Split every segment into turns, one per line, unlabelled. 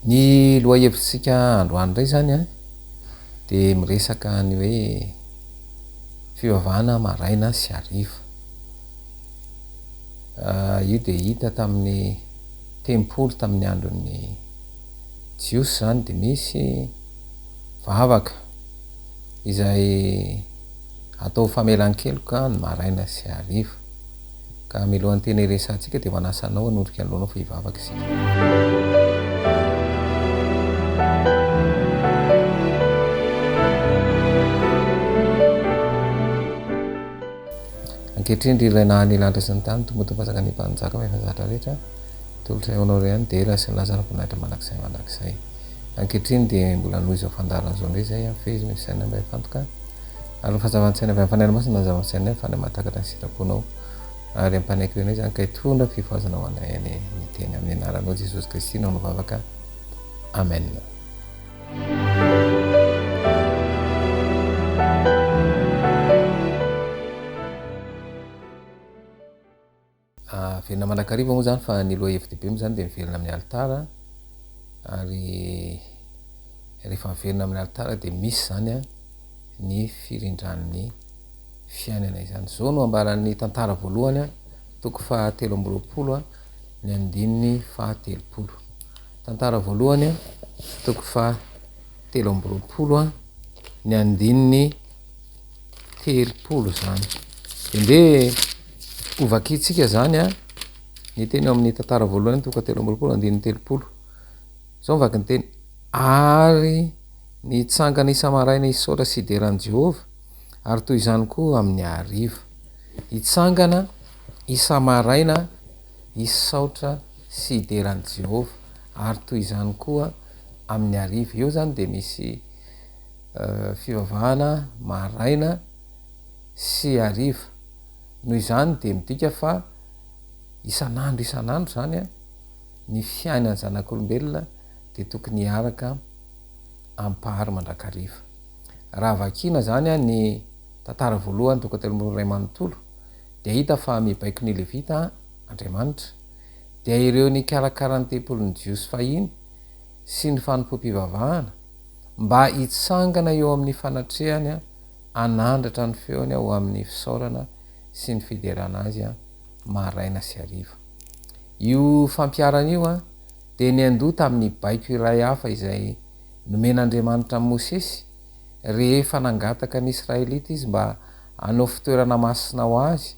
Ny lohahevitritsika androany indray izany an, dia miresaka ny hoe fivavahana maraina sy hariva. Io dia hita tamin'ny tempoly tamin'ny andron'ny Jiosy izany dia misy vavaka izay atao famelan-keloka ny maraina sy hariva. Ka milohan'ny tena hiresahantsika dia manasa anao hanondrika ny lohanao fa hivavaka isika. Ankehitriny ry ilay naha ny lanitra sy ny tany Tompo Tompo Fanjakan'ny Mpanjaka fa efa zatra rehetra Tolotra eo anao rehany dia ela sy ny lasa ny voninahitra mandrakizay mandrakizay Ankehitriny dia mbola noho izao fandaharana izao indray izay hafehy ny fisainanay mba hifantoka ary ho fanjavan-tsaina avy amin'ny Fanahy Masina ny zava-misainanay fa Andriamanitra takatra ny sitraponao ary ampanaiky eo anay izany ka hitondra fifohazana ho anay anie ny teny amin'ny anaranao Jesosy Kristy no nivavaka Amen. Averina mandrakariva moa izany fa ny lohahevi-dehibe moa izany dia miverina amin'ny alitara ary rehefa miverina amin'ny alitara dia misy izany a ny firindran'ny fiainana izany izao no ambaran'ny tantara voalohany a toko fahatelo amby roapolo a ny andininy fahatelopolo Tantara voalohany, toko faha telo amby roapolo, ny andininy telopolo izany. Dia ndeha hovakintsika izany ny teny ao amin'ny tantara voalohany, toko telo amby roapolo, andininy telopolo. Izao ny vakin'ny teny, ary nitsangana isa-maraina hisaotra sy hidera an'i Jehovah, ary toy izany koa amin'ny hariva. Hitsangana isa-maraina. hisy saotra sy hidera an'i Jehovah, ary toy izany koa amin'ny hariva. Eo izany dia misy fivavahana maraina sy hariva. Noho izany dia midika fa isan'andro isan'andro izany ny fiainan'ny zanak'olombelona dia tokony hiaraka ampahary mandrakariva. Raha vakina izany ny tantara voalohany toko telo amby roa iray manontolo, dia hita fa mibaiko ny Levita Andriamanitra, dia ireo nikarakara ny tempolin'ny Jiosy fahiny sy ny fanompoam-pivavahana, mba hitsangana eo amin'ny fanatrehany hanandratra ny feony ho amin'ny fisaorana sy ny fiderana Azy maraina sy hariva. Io fampiharana io dia niandoha tamin'ny baiko iray hafa izay nomen'Andriamanitra an'i Mosesy, rehefa nangataka ny Israelita Izy mba hanao fitoerana masina ho Azy,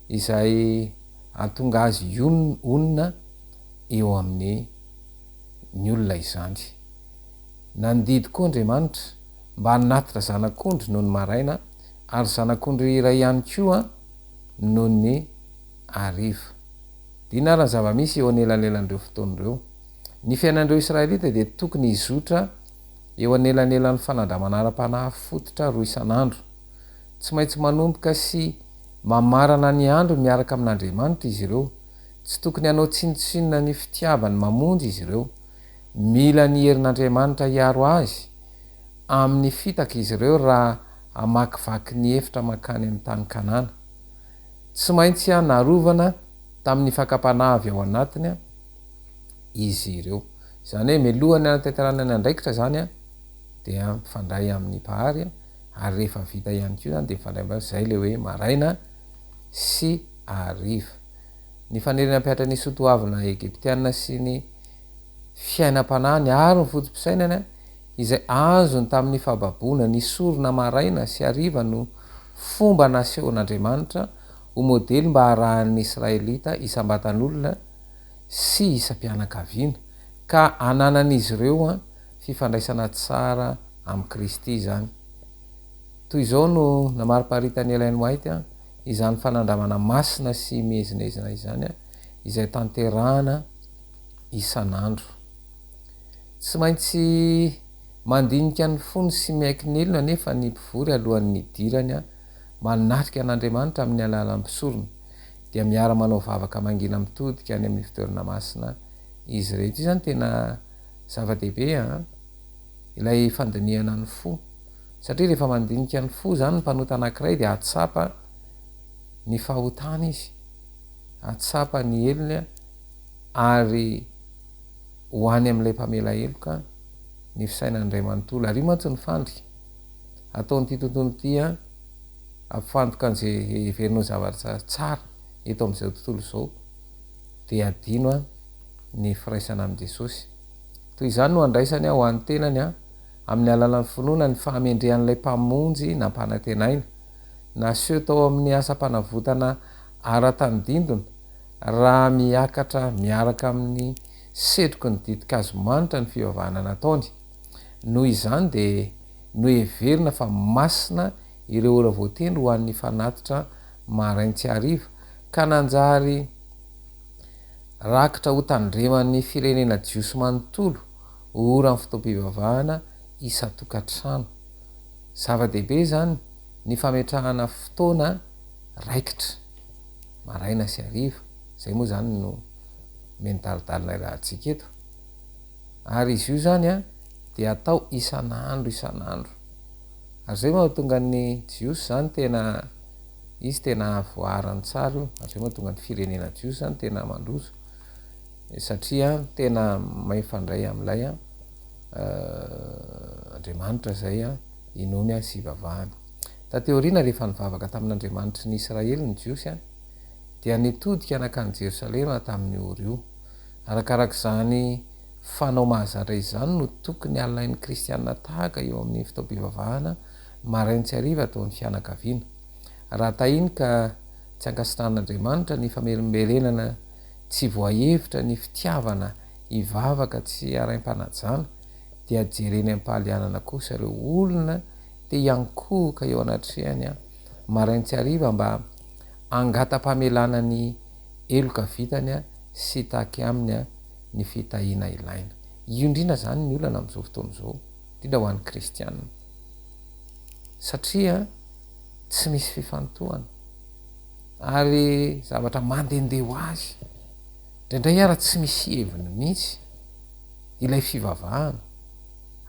izay hahatonga Azy honina eo amin'ny ny olona izany. Nandidy koa Andriamanitra mba hanatitra zanak'ondry nony maraina ary zanak'ondry iray ihany koa nony hariva. Dina ary ny zava-misy eo anelanelan'ireo fotoana ireo. Ny fiainan'ireo Israelita dia tokony hizotra eo anelanelan'ny fanandramana ara-panahy fototra roa isan'andro. Tsy maintsy manomboka sy mamarana ny andro miaraka amin'Andriamanitra izy ireo. Tsy tokony hanao tsinontsinona ny fitiavany mamonjy izy ireo. Mila ny herin'Andriamanitra hiaro azy amin'ny fitaka izy ireo raha hamakivaky ny efitra mankany amin'ny tany Kanana. Tsy maintsy narovana tamin'ny fakam-panahy avy ao anatiny. izy ireo. Izany hoe mialoha ny hanatanterahana ny andraikitra izany dia mifandray amin'ny Mpahary ary rehefa vita ihany koa izany dia mifandray amin'izay izay ilay hoe maraina sy hariva. Ny faniriana hampihatra ny soatoavina Egyptiana sy ny fiainam-panahiny ary ny foto-pisainany izay azony tamin'ny fahababoana ny sorona maraina sy hariva no fomba nasehon'Andriamanitra ho modely mba harahan'ny Israelita isam-batan'olona sy isam-pianakaviana, ka ananan'izy ireo fifandraisana tsara amin'i Kristy izany. Toy izao no namariparitan'i Ellen White izany fanandramana masina sy miezinezina izany, izay tanterahana isan'andro. Tsy maintsy mandinika ny fony sy miaiky ny helony anefa ny mpivory alohan'ny hidirany manatrika an'Andriamanitra amin'ny alalan'ny mpisorona. dia miara manao vavaka mangina mitodika any amin'ny fitoerana masina izy ireto. Io zany tena zava-dehibe an! Ilay fandinihana ny fo. Satria rehefa mandinika ny fo zany ny mpanota anankiray dia ahatsapa ny fahotany izy, ahatsapa ny helony an, ary ho any amin'ilay mpamela heloka ny fisainany iray manontolo. Ary io mantsy ny fandrika ataon'ity tontolo ity an, Ampifantoka an'izay heverinao ho zavatra tsara eto amin'izao tontolo izao, dia hadino ny firaisana amin'i Jesosy. Toy izany no andraisany ho an'ny tenany amin'ny alalan'ny finoana ny fahamendrehan'ilay Mpamonjy nampanantenaina. Naseho tao amin'ny asam-panavotana ara-tany dindona, raha miakatra miaraka amin'ny setroky ny ditin-kazo manitra ny fivavahana nataony. Noho izany dia noheverina fa masina ireo ora voatendry ho an'ny fanatitra marain tsy hariva, ka nanjary rakitra ho tandreman'ny firenena jiosy manontolo ho oran'ny fotoam-pivavahana isan-tokantrano. Zava-dehibe izany ny fametrahana fotoana raikitra, maraina sy hariva, izay moa izany no mendalidalina iarahantsika eto. Ary izy io izany an, dia atao isan'andro isan'andro. Ary izay mahatonga ny Jiosy izany tena, izy tena hahavoaran'ny tsara io, ary izay mahatonga ny firenena Jiosy izany tena mandroso, satria an, tena mifandray amin'ilay an, Andriamanitra izay an, inoany an, sy ivavahany. Taty aoriana rehefa nivavaka tamin'Andriamanitry ny Israely ny Jiosy an, dia nitodika nankany Jerosalema tamin'io ora io. Arakaraka izany fanao mahazatra izany no tokony halain'ny kristiana tahaka eo amin'ny fotoam-pivavahana maraina sy hariva ataon'ny fianakaviana. Raha tahiny ka tsy ankasitrahan'Andriamanitra ny famerimberenana tsy voahevitra ny fitiavana hivavaka tsy araim-panajana, dia jereny am-pahalianana kosa ireo olona te hiankohoka eo anatrehany maraina sy hariva mba hangata-pamelana ny heloka vitany sy hitaky aminy ny fitahiana ilaina. Io indrindra izany ny olana amin'izao fotoana izao, indrindra ho an'ny kristiana, satria tsy misy fifantohana ary zavatra mandehandeha ho azy, indraindray ara tsy misy heviny mihitsy ilay fivavahana,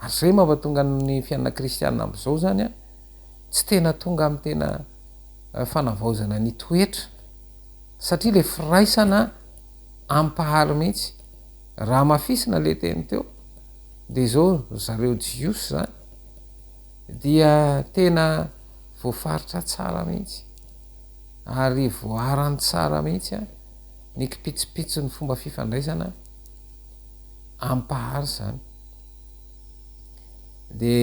ary izay mampatonga ny fianana kristiana amin'izao izany tsy tena tonga amin'ny tena fanavaozana ny toetra, satria le firaisana ampahalo mihitsy raha amafisina le teny teo de zao ry zareo jiosy zany dia tena voafaritra tsara mihitsy ary voaharany tsara mihitsy a ny kipitsipitson'ny fomba fifandraisana ampahary zany de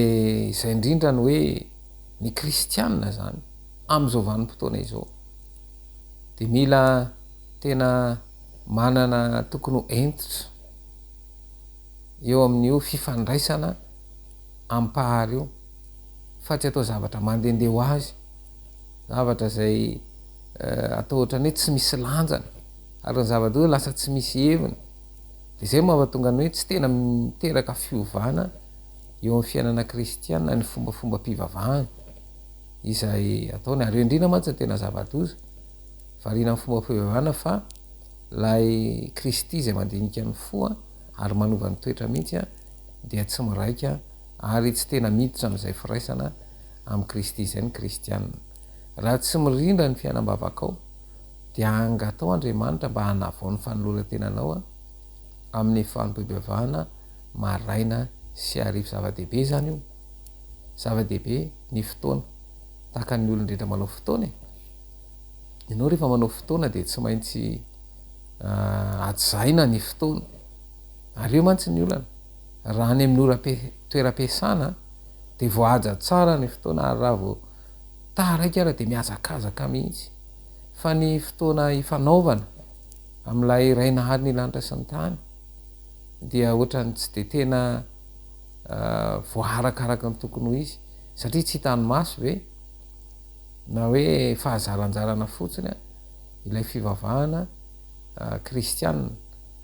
izay indrindra ny hoe ny kristianina zany am'izao vanim-potoana izao dia mila tena manana tokony ho entitra eo amin'io fifandraisana ampahary io fa tsy atao zavatra mandehandeha ho azy zavatra izay eh, atao ohatrany hoe tsy misy lanjany ary ny zavatra hoe lasa tsy misy heviny dia izay mahatonga ny hoe tsy tena miteraka fiovana eo amin'ny fiainana kristiana ny fombafombam-pivavahana izay ataony ary endrina mantsy tena zava-doza variana amin'ny fomba fivavahana fa ilay Kristy izay mandinika ny fo ary manova ny toetra mihitsy dia tsy miraika ary tsy tena miditra amin'izay firaisana amin'i Kristy izay ny Kristiana raha tsy mirindra ny fiainam-bavakao dia angatao Andriamanitra mba hanavao ny fanoloran-tenanao amin'ny fanompoam-pivavahana maraina sy hariva zava-dehibe izany io Zava-dehibe ny fotoana. Tahaka ny olon-drehetra manao fotoana e! Ianao rehefa manao fotoana dia tsy maintsy hajaina ny fotoana. Ary eo mantsy ny olana. Raha any amin'ny ora toeram-piasana dia voahaja tsara ny fotoana ary raha vao taraiky ary dia mihazakazaka mihitsy. Fa ny fotoana ifanaovana amin'ilay iray nahary ny lanitra sy ny tany dia ohatran'ny tsy dia tena voaharaka araka ny tokony ho izy satria tsy hitan'ny maso ve na hoe fahazaranjarana fotsiny ilay fivavahana kristiana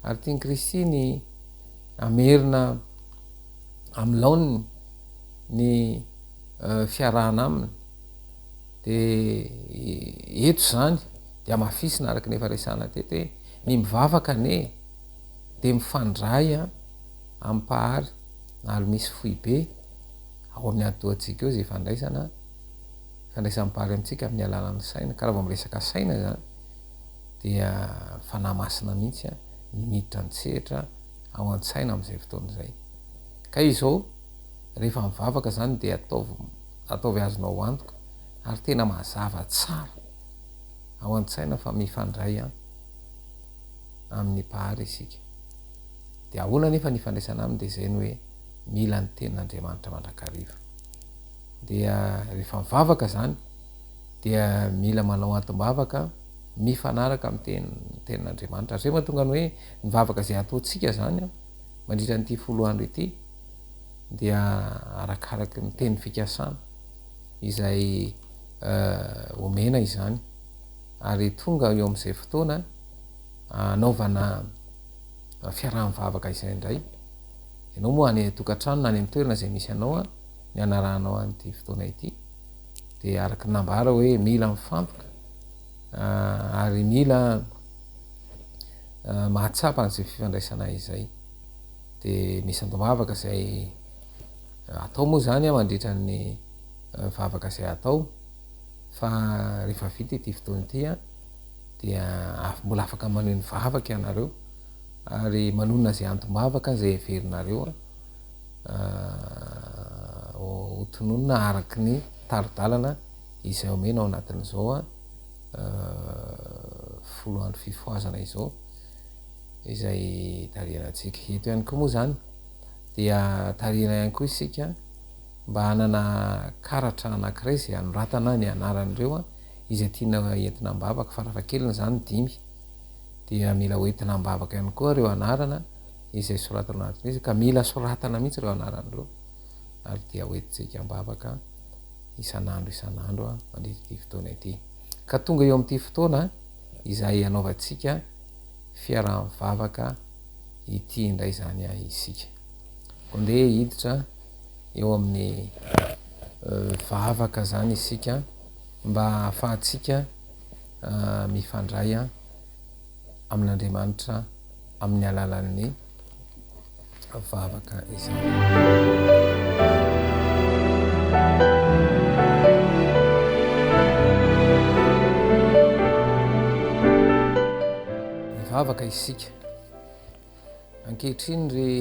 ary tian'i Kristy ny hamerina amin'ny laoniny ny fiarahana aminy dia eto izany dia hamafisina araka ny efa resahana teto hoe ny mivavaka anie dia mifandray a Ampahary, nalo misy foibe ao amin'ny atidohantsika ao izay ifandraisana, ifandraisan'ny Mpahary amintsika amin'ny alalan'ny saina, ka raha vao miresaka saina izany dia Fanahy Masina mihitsy no miditra an-tsehatra ao an-tsaina amin'izay fotoana izay. Ka izao, rehefa mivavaka izany dia ataovy, ataovy azonao antoka ary tena mazava tsara ao an-tsaina fa mifandray amin'ny Mpahary isika. Dia ahoana anefa ny ifandraisana aminy dia izay ny hoe mila ny tenin'Andriamanitra mandrakariva. Dia rehefa mivavaka izany dia mila manao antim-bavaka mifanaraka amin'ny teny tenin'Andriamanitra. Izay mahatonga ny hoe ny vavaka izay ataontsika izany mandritra an'ity folo andro ity dia arakaraky ny teny fikasana izay eh, omena izany ary tonga eo amin'izay fotoana anaovana fiaraha-mivavaka izay indray, ianao moa any an-tokantrano na any an-toerana izay misy anao a, ny hanarahanao an'ity fotoana ity, dia araka ny nambara hoe mila mifantoka ah, ary mila ah, mahatsapa an'izay fifandraisana izay. Dia misy andoha-mavaka izay ah, atao moa izany a mandritra ny vavaka izay atao, fa rehefa vita ity fotoana ity a, dia af mbola afaka maneho ny vavaka ianareo ary manonona izay antom-bavaka izay heverinareo ho tononina araky ny tari-dalana izay omena ao anatin'izao folo andro fifohazana izao izay tarihanantsika. Eto ihany koa moa izany dia tarihina ihany koa isika mba hanana karatra anankiray izay hanoratana ny anaran'ireo izay tiana entina am-bavaka farafahakeliny izany dimy dia mila ho entina am-bavaka ihany koa ireo anarana izay soratana anaty mesa ka mila soratana mihitsy ireo anarana ireo ary dia ho entintsika am-bavaka isan'andro isan'andro mandritra ity fotoana ity ka tonga eo amin'ity fotoana izay anaovantsika fiaraha-mivavaka ity indray izany ahy isika ondeha hiditra eo amin'ny euh, vavaka izany isika mba hahafahantsika mifandray amin'Andriamanitra amin'ny alalan'ny vavaka izany. vavaka isika Ankehitriny ry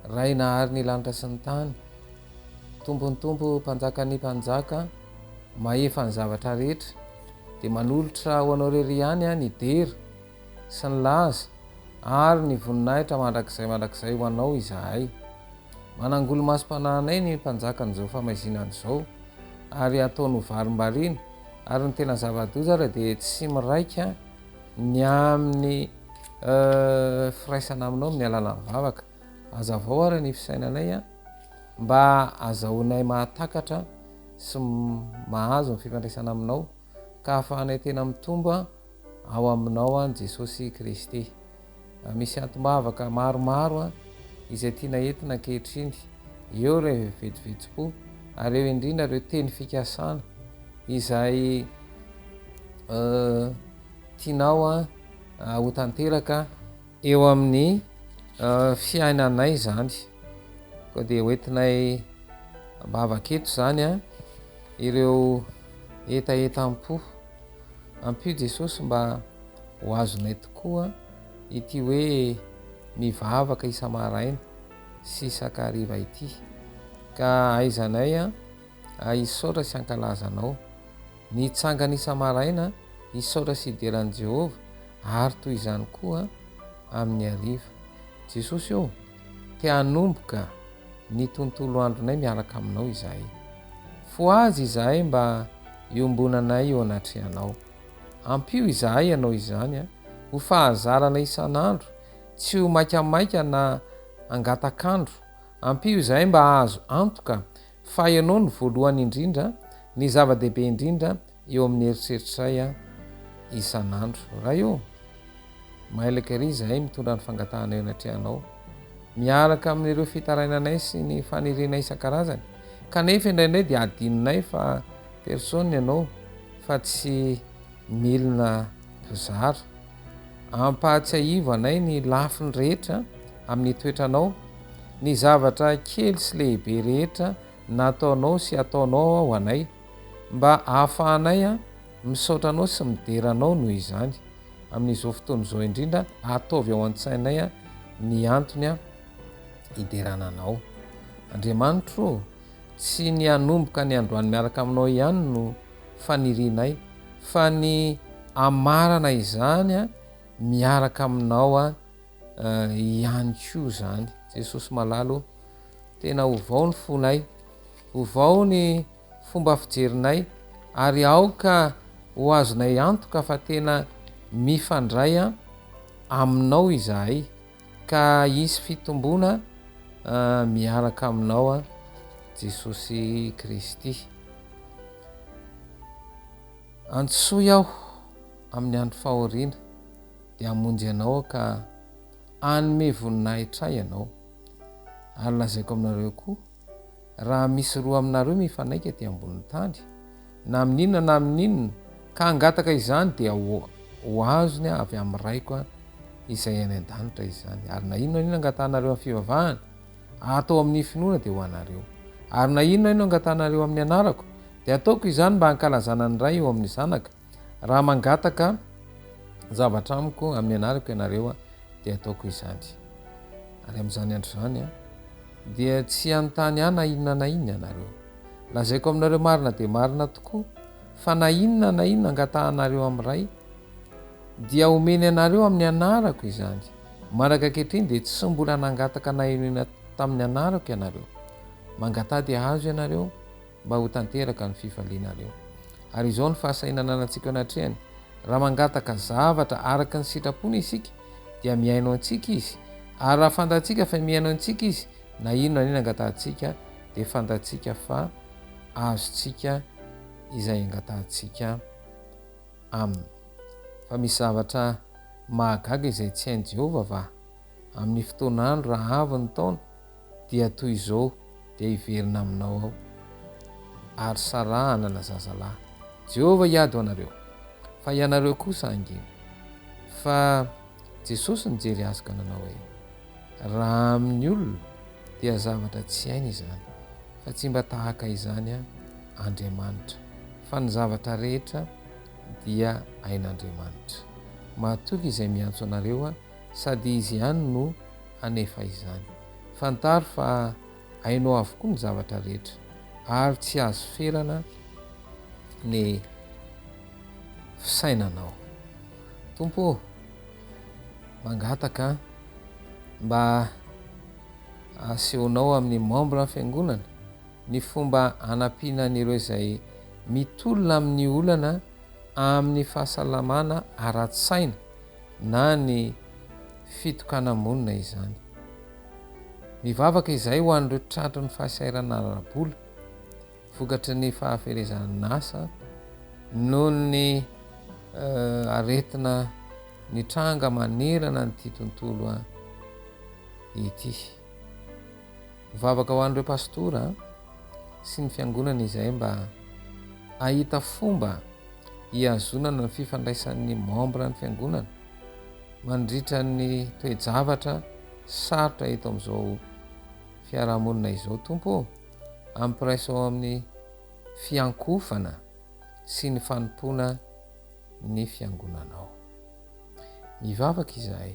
Ray nahary ny lanitra sy ny tany, Tompon'ny Tompo, Mpanjakan'ny Mpanjaka, Mahefa ny zavatra rehetra, dia manolotra ho Anao irery ihany aho ny dera sy ny laza ary ny voninahitra mandrakizay mandrakizay ho Anao izahay. Manangolo-masom-panahinay ny Mpanjakan'izao famaizinana izao ary ataony ho varimbariana ary ny tena zava-doza ary dia tsy miraika Ny amin'ny firaisana aminao amin'ny alalan'ny vavaka. Hazavao ary ny fisainanay mba hazahoanay mahatakatra sy mahazo ny fifandraisana aminao ka hahafahanay tena mitombo ao aminao an'i Jesosy Kristy. Misy antom-bavaka maromaro izay tiana entina ankehitriny, eo ireo vetivetim-po ary eo indrindra ireo teny fikasana izay tianao ho tanteraka eo amin'ny fiainanay izany. Koa dia ho entinay ambavaka eto izany ireo hetahetam-po. Ampio Jesosy mba ho azonay tokoa ity hoe mivavaka isa-maraina sy isak'hariva ity, ka ahaizanay hisaotra sy hankalaza Anao. Ny tsangana isa-maraina hisaotra sy hidera an'i Jehovah, ary toy izany koa amin'ny hariva. Jesosy ô! Te hanomboka ny tontolo andronay miaraka aminao izahay. Fohaza izahay mba iombonanay eo anatrehanao. Ampio izahay ianao izany ho fahazarana isan'andro, tsy ho maikamaika na hangatak'andro. Ampio izahay mba hahazo antoka fa ianao no voalohany indrindra, ny zava-dehibe indrindra Eo amin'ny eritreritray aho isan'andro. Ray ô! Mailaka ery izahay mitondra ny fangatahanay anatrehanao, miaraka amin'ireo fitarainanay sy ny fanirianay isan-karazany. Kanefa indraindray dia adinonay fa persona ianao fa tsy milina mpizara. Ampahatsiahivo anay ny lafiny rehetra amin'ny toetranao, ny zavatra kely sy lehibe rehetra nataonao sy ataonao ho anay. mba ahafahanay misaotra Anao sy midera Anao noho izany. Amin'izao fotoana izao indrindra, ataovy ao an-tsainay ny antony hiderana Anao. Andriamanitro ô, tsy ny hanomboka ny androany miaraka aminao ihany no fanirianay, fa ny hamarana izany miaraka aminao ihany koa izany. Jesosy malala ô, tena ovao ny fonay. Ovao ny fomba fijerinay ary aoka ho azonay antoka fa tena mifandray Aminao izahay, ka hisy fitomboana miaraka Aminao Jesosy Kristy. Antsoy aho amin'ny andro fahoriana dia hamonjy anao aho ka hanome voninahitra ahy Ianao. Ary lazaiko aminareo koa, Raha misy roa aminareo mifanaiky aty ambonin'ny tany, na amin'inona na amin'inona, ka hangataka izany, dia ho azony avy amin'ny Raiko izay any an-danitra izany. Ary na inona na inona angatahanareo amin'ny fivavahana, atao amin'ny finoana, dia ho anareo. Ary na inona na inona angatahanareo amin'ny Anarako, dia ataoko izany mba hankalazana ny Ray eo amin'ny Zanaka. Raha mangataka zavatra amiko amin'ny anarako ianareo dia ataoko izany. Ary amin'izany andro izany dia tsy hanontany ahy na inona na inona ianareo. Lazaiko aminareo marina dia marina tokoa fa na inona na inona angatahanareo amin'ny Ray dia homeny anareo amin'ny anarako izany. Mandraka ankehitriny dia tsy mbola nangataka na inona tamin'ny anarako ianareo. Mangataha dia hahazo ianareo. mba ho tanteraka ny fifalianareo. Ary izao ny fahasahinananantsika eo anatrehany, Raha mangataka zavatra araka ny sitrapony isika, dia mihaino antsika Izy, ary raha fantatsika fa mihaino antsika Izy, na inona na inona angatahantsika, dia fantatsika fa azontsika izay angatahantsika Aminy. Fa misy zavatra mahagaga izay tsy hain'i Jehovah va? Amin'ny fotoan'andro rahavon'ny taona, dia toy izao dia hiverina aminao aho, ary sarahana na zaza lahy. Jehovah hiady ho anareo, fa ianareo kosa hangina. Fa Jesosy nijery azy ka nanao hoe, Raha amin'ny olona dia zavatra tsy hainy izany, fa tsy mba tahaka izany aho, Andriamanitra, fa ny zavatra rehetra dia hain'Andriamanitra. Matoky izay miantso anareo aho, sady izy ihany no hanefa izany. Fantaro fa hainao avokoa ny zavatra rehetra ary tsy azo ferana ny fisainanao. Tompo ô, mangataka mba asehonao amin'ny membre ny fiangonana ny fomba hanampiana an'ireo izay mitolona amin'ny olana amin'ny fahasalamana ara-tsaina, na ny fitokana-monina izany. Mivavaka izay ho an'ireo tratry ny fahasahiranana ara-bola vokatry ny fahaferezan'asa noho ny aretina nitranga manerana an'ity tontolo ity. Mivavaka ho an'ireo pastora sy ny fiangonana izahay mba hahita fomba hihazonana ny fifandraisan'ny membres ny fiangonana mandritra ny toe-javatra sarotra eto amin'izao fiarahamonina izao Tompo ô! Ampiraisao amin'ny fiankohofana sy ny fanompoana ny fiangonanao. Mivavaka izahay.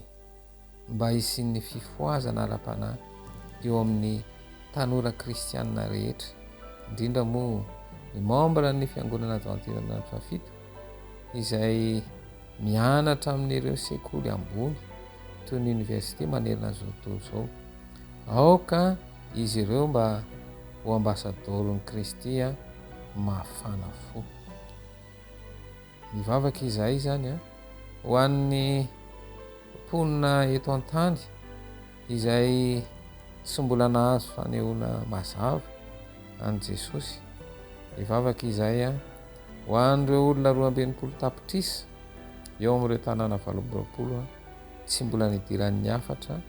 mba hisian'ny fifohazana ara-panahy eo amin'ny tanora kristianina rehetra, indrindra moa ny membra ny Fiangonana Advantiran'Andro Fahafito izay mianatra amin'ireo sekoly ambony toy ny oniversite manerana izao tontolo izao. Aoka izy ireo mba ho ambasadoron'i Kristy mafana fo. Mivavaka izahay izany an, ho an'ny mponina eto an-tany izay tsy mbola nahazo fanehoana mazava an'i Jesosy. Mivavaka izahay an, ho an'ireo olona roa amby enimpolo tapitrisa eo amin'ireo tanàna valo amby roapolo tsy mbola nidiran'ny hafatra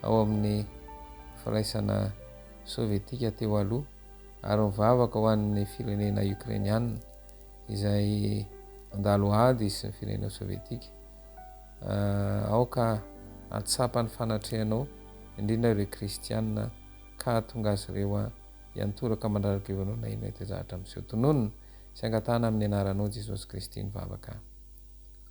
ao amin'ny Firaisana Sovietika teo aloha, ary mivavaka ho an'ny firenena Ukrainiana. izay nandalo ady sy ny firenena sovietika, aoka hahatsapa ny fanatrehanao, indrindra ireo kristiana, ka hahatonga azy ireo hiantoraka mandradra-peo anao na inona ety an-jahatra miseho. Tononina sy angatahana amin'ny anaranao Jesosy Kristy ny vavaka.